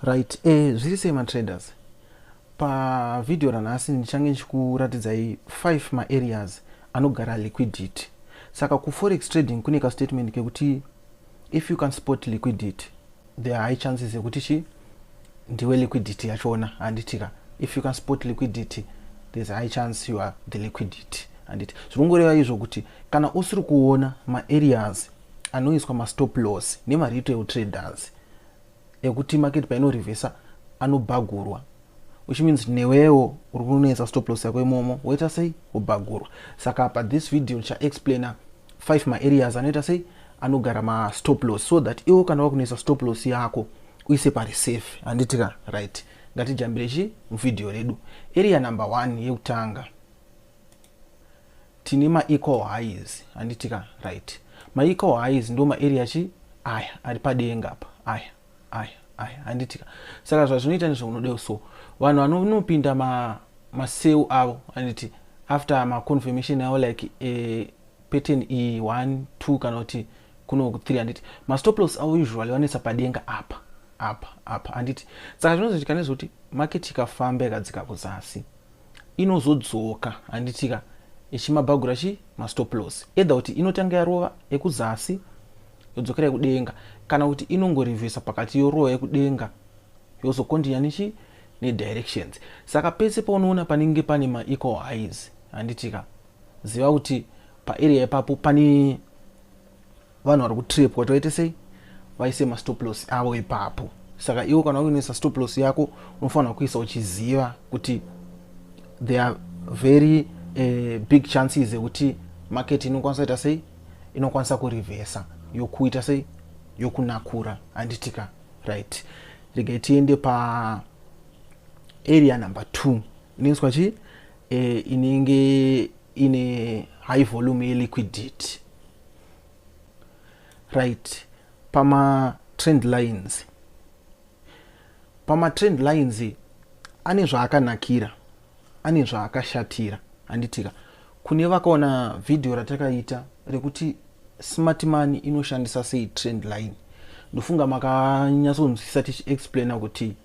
Right, eh, zviri sei matraders? Pavhidhiyo ranhasi ndichange ndichikuratidzai 5 maareas anogara liquidity. Saka kuforex trading kune kastatement kekuti if you can spot liquidity there are high chances ekuti chi ndiwe liquidity yachona handitika if you can spot liquidity there's a high chance you are the liquidity handiti zviri kungoreva izvo kuti kana usiri kuona maareas anoiswa mastop loss nemaretail traders ekuti market paino revesa anobhagurwa which means newewo uri kunonetsa stop loss yako imomo woita sei wobhagurwa saka pa this video ndichaexplaina five maareas anoita sei anogara mastop loss so that iwo kana wakunetsa stop loss yako uise pari safe handiti ka right ngatijambire chi muvhidhiyo redu area number one yekutanga Tine ma equal highs handiti ka right. Ma equal highs ndo ma area chi aya ari padenga apa aya aya aya handiti ka. Saka zvazvinoita ndizvo unodeo so vanhu vanonopinda ma ma sale avo handiti after ma confirmation avo like eh, pattern iyi 1 2 kana kuti kuno 3 handiti ma stop loss avo usually vanoisa padenga apa apa apa handiti saka zvinozoitika nezvekuti market ikafamba ikadzika kuzasi inozodzoka handitika ichimabhagura chi mastoplos either kuti inotanga yarova ekuzasi yodzokera yekudenga kana kuti inongorivhesa pakati yorova yekudenga yozokondinya nechi nedirections saka pese paunoona panenge pane maequal highs handitika ziva kuti paarea ipapo pane vanhu vari kutrepwa toite sei vaise mastop loss avo ipapo saka iwo kana uinoisa stop loss yako unofanira kuisa uchiziva kuti there are very uh, big chances ekuti market inokwanisa ita sei inokwanisa kurivhesa yokuita sei yokunakura handitika right regai tiende pa area number two inoiswa chii eh, inenge ine high volume yeliquidity right pama trend lines pama trend lines ane zvaakanakira ane zvaakashatira handitika kune vakaona vhidhiyo ratakaita rekuti smart money inoshandisa sei trend line ndofunga makanyatsonzwisisa tichiexplaina kuti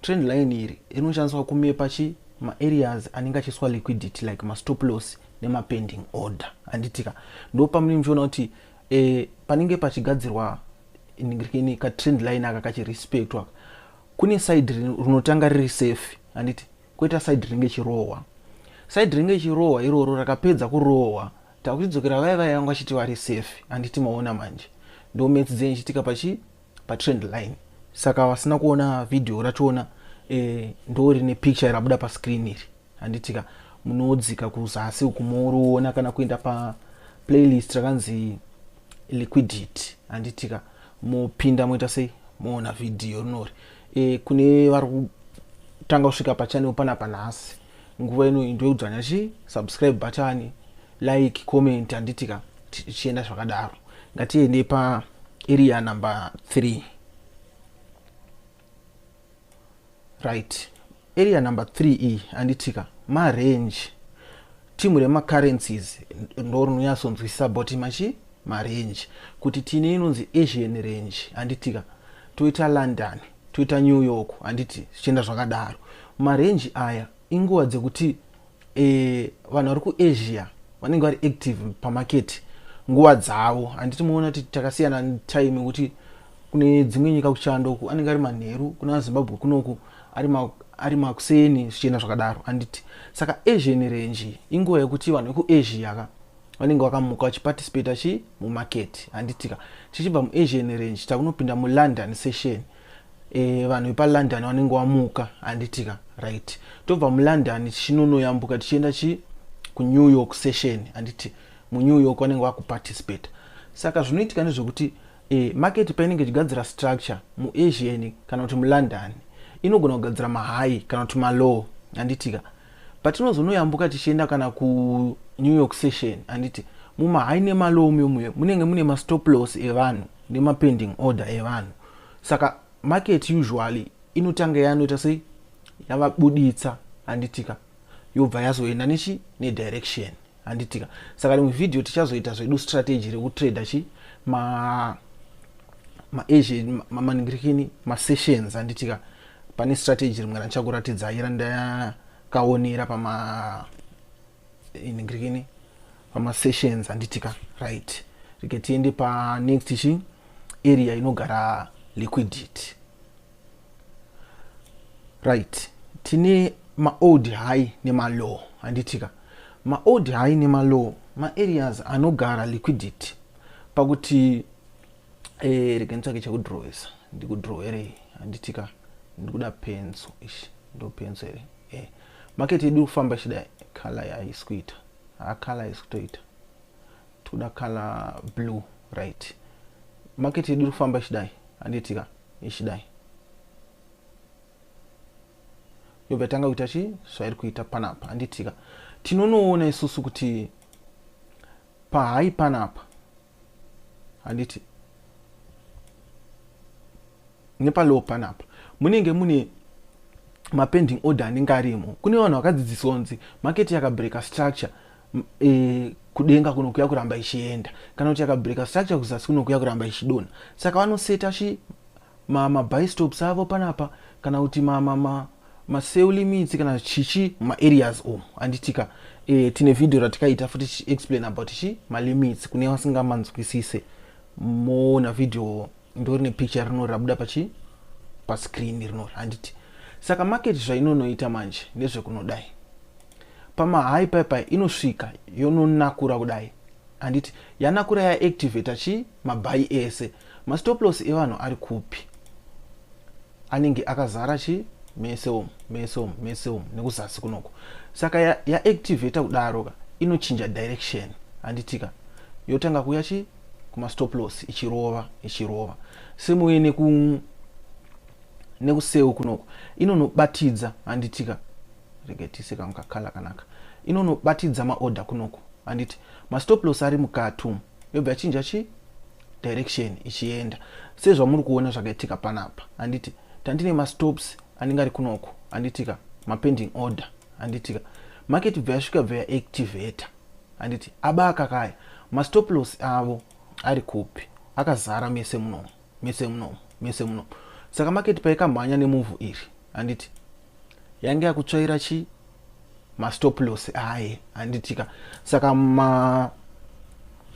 Trend line iri rinoshandiswa kumepa chi ma areas anenge achiiswa liquidity like ma stop loss nema pending order handitika ndo pamunenge muchiona kuti eh, panenge pachigadzirwa ini ka trend line aka kachirespectwa kune side rinotanga riri safe handiti koita side rinenge chirohwa side rinenge chirohwa iroro rakapedza kurohwa takuchidzokera vaya vaya vanga vachiti vari safe handiti maona manje ndo maths dzenyu chitika pachi patrend line saka vasina kuona video rachona eh, ndo rine picture rabuda pascreen iri handitika munodzika kuzasi uku moriona kana kuenda pa playlist rakanzi liquidity handitika mopinda moita sei moona video rinori e, kune vari kutanga kusvika pachanel panapa nhasi nguva ino into yekudzvanya chi subscribe button like comment handiti ka tichienda zvakadaro ngatiende pa area number 3 right area number 3 iyi handitika marange timu remacurrencies ndo rinonyatsonzwisisa boti machi marange kuti tine inonzi asian range handitika toita london toita new york handiti zvichienda zvakadaro marenji aya inguva dzekuti e, vanhu vari kuasia vanenge vari active pamaketi nguva dzavo handiti muona kuti takasiyana time kuti kune dzimwe nyika kuchando uku anenge ari manheru kuna azimbabwe kunoku ari makuseni zvichienda zvakadaro handiti saka asian range inguva yekuti vanhu vekuasia ka vanenge vakamuka vachiparticipata chi mumarket handitika tichibva muasian range takunopinda mulondon session e, vanhu vepalondon vanenge vamuka handitika right tobva mulondon tichinonoyambuka tichienda chi kunew york session handiti munew york vanenge vakuparticipata saka zvinoitika nezvekuti e, market painenge ichigadzira structure muasian kana kuti mulondon inogona kugadzira mahigh kana kuti malow handitika Patinozonoyambuka tichienda kana kuNew York session handiti mumahigh nemalow mumuyo munenge mune mastop loss evanhu nemapending order evanhu saka market usually inotanga yanoita sei yavabuditsa handitika yobva yazoenda nechi nedirection handitika saka rimwe vhidhiyo tichazoita zvedu strategy rekutrader chi ma maasian mamaningirikini masessions handitika pane strategy rimwe randichakuratidzai randakaonera pama iningirikini pamasessions handitika right rike tiende panext chi area inogara liquidity right tine maold high nemalow handitika maold high nemalow maareas anogara liquidity pakuti eh, rega nditsvake chekudrowesa ndikudrow here handitika ndikuda penso ishi ndo penso here eh. market yedu kufamba ichida color yaisi kuita hacolor isi kutoita tikuda color blue right market yedu kufamba ichidai handitika ichidai yobva yatanga kuita chii zvairi kuita panapa handitika tinonoona isusu kuti pahai panapa handiti nepalow panapa munenge mune mapending order anenge arimo kune vanhu vakadzidziswa kunzi market yakabreka structure e, kudenga kuno kuya kuramba ichienda kana kuti yakabreaker structure kuzasi kuno kuya kuramba ichidona saka vanoseta chi mabistops avo panapa kana kuti maseu limits kana chichi maareas omu anditika e, tine vhidhiyo ratikaita futi tichiexplain about chi malimits kune vasingamanzwisise moona vhidhiyo ndori nepicture rino rabuda pachi pascreen rino handiti saka market zvainonoita manje ndezvekunodai Pamahigh pipe inosvika yononakura kudai handiti yanakura ya activator chi mabhayi ese mastoploss evanhu ari kupi anenge akazara chi mese umu mese umu mese umu nekuzasi kunoko saka ya, ya activator kudaro ka inochinja direction handitika yotanga kuya chi kumastoploss ichirova ichirova semuye neku nekuseu kunoko inonobatidza handitika rega tiise kangu kakala kanaka inonobatidza maorder kunoku handiti mastop loss ari mukati umu yobva yachinja chii direction ichienda sezvamuri kuona zvakaitika panapa handiti tandine mastops anenge ari kunoko handitika mapending order handitika market bva yasvika bva yaactivator handiti aba akakaya mastop loss avo ari kupi akazara mese munomo mese muno mese muno saka market paikamhanya nemuvhu iri handiti yange yakutsvaira chi mastop loss aye handitika saka ma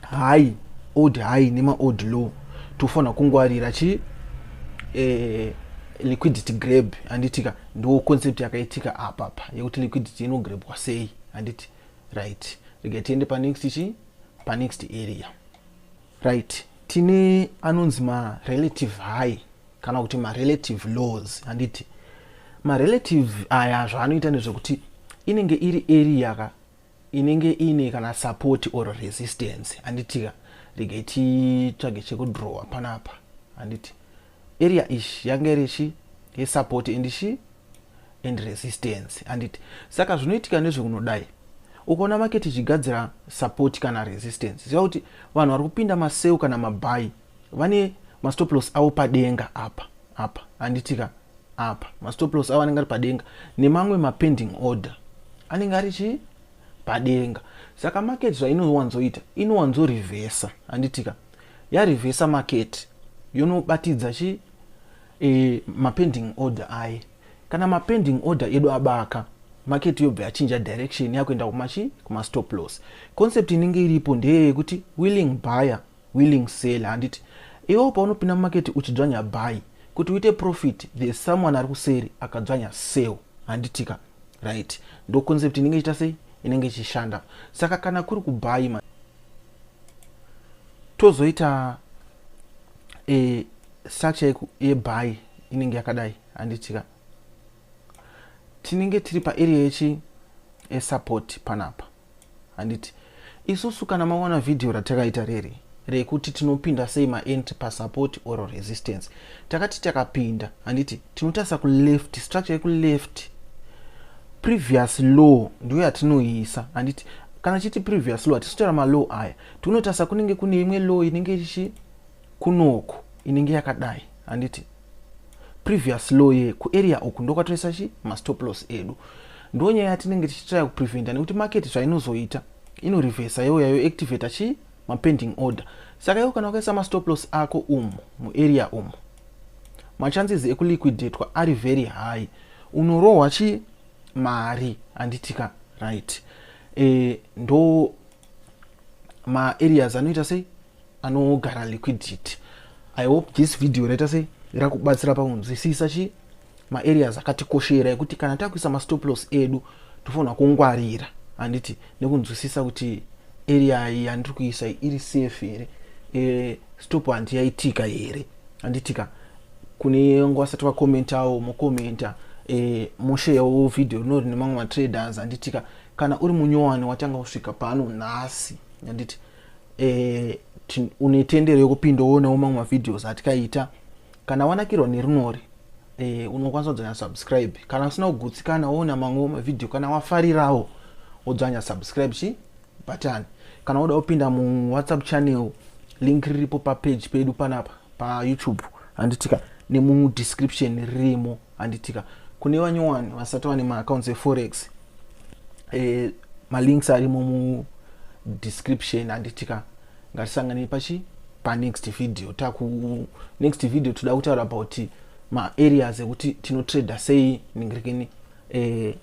high old high nemaold low tofanira kungwarira chi eh, liquidity grab handitika ndo concept yakaitika apapa yekuti liquidity inograbwa sei handiti right rega tiende panext chi panext area Right. Tine anonzi ma relative high kana kuti ma relative laws handiti ma relative aya zvaanoita ndezvekuti inenge iri area ka inenge ine kana support or resistance handitika regai titsvage chekudrowa panapa handiti area ish yange iri shi yesupport and shi and resistance handiti saka zvinoitika nezvekunodai ukaona maketi ichigadzira support kana resistance ziva kuti vanhu vari kupinda maseu kana mabhayi vane mastoplos avo padenga apa apa handitika apa mastoplos avo anenge ari padenga nemamwe mapending order anenge ari chii padenga saka maketi zvainowanzoita inowanzorivhesa handitika yarivhesa maketi yonobatidza chi e, mapending order aye kana mapending order edu abaka maketi yobva yachinja direction yakuenda kumachi kumastop loss concept inenge iripo ndeye yekuti willing buyer willing seller handiti iwewo paunopinda mumaketi uchidzvanya buy kuti uite profit the someone ari kuseri akadzvanya sell handitika right ndo concept inenge ichita sei inenge ichishanda saka kana kuri kubuy tozoita e, structure yebuy inenge yakadai handitika tinenge tiri paarea yechi esupport panapa handiti isusu kana maona vhidhiyo ratakaita riri rekuti tinopinda sei maentry pasupport or resistance takati takapinda handiti tinotarisa kuleft structure yekuleft previous law ndiyo yatinoisa handiti Kana chiti previous law tichitaura malaw aya tinotarisa kunenge kune imwe law inenge ichi kunoko inenge yakadai handiti previous law ye kuarea uku ndokwatoisa chi mastop loss edu ndo nyaya yatinenge tichitraya kupreventa nekuti market zvainozoita inorevhesa youya yoactivata chii mapending order saka iwo kana wakaisa mastop loss ako umu muarea umu machances ekuliquidetwa ari very high unorohwa chii mari handitika right e, ndo maareas anoita sei anogara liquidity i hope this video raita sei rakubatsira pakunzwisisa chii maareas akatikoshera ekuti kana takuisa mastoplos edu tofanira kungwarira handiti nekunzwisisa kuti area iyi yandiri kuisa iri safe here e, stop handiyaitika here handitika kune vanga vasati vakomentawo mokomenta eh, mosheyawo vhidhiyo rino rine mamwe matraders handitika kana uri munyowani watanga kusvika pano nhasi handiti eh, une tendero yekupinda woonawo mamwe mavhidhios atikaita kana wanakirwa nerinori eh, unokwanisa kudzanya subscribe kana usina kugutsikana woona mamwewo mavhidhiyo kana wafarirawo wodzanya subscribe chii button kana woda kupinda mu whatsapp channel link riripo pa page pedu panapa pa youtube handitika nemu description ririmo handitika kune vanyowani vasati vane ma accounts e forex eh, ma links arimo mu description handitika ngatisangane pachi pa next video taku next video toda kutaura about ma areas ekuti tino trader sei ningirekeni eh,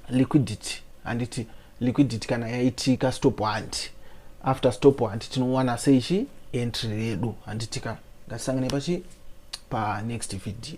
liquidity handiti liquidity kana yaitika stop hunt after stop hunt tinowana sei chi entry redu handitika ngatisangane pachi pa next video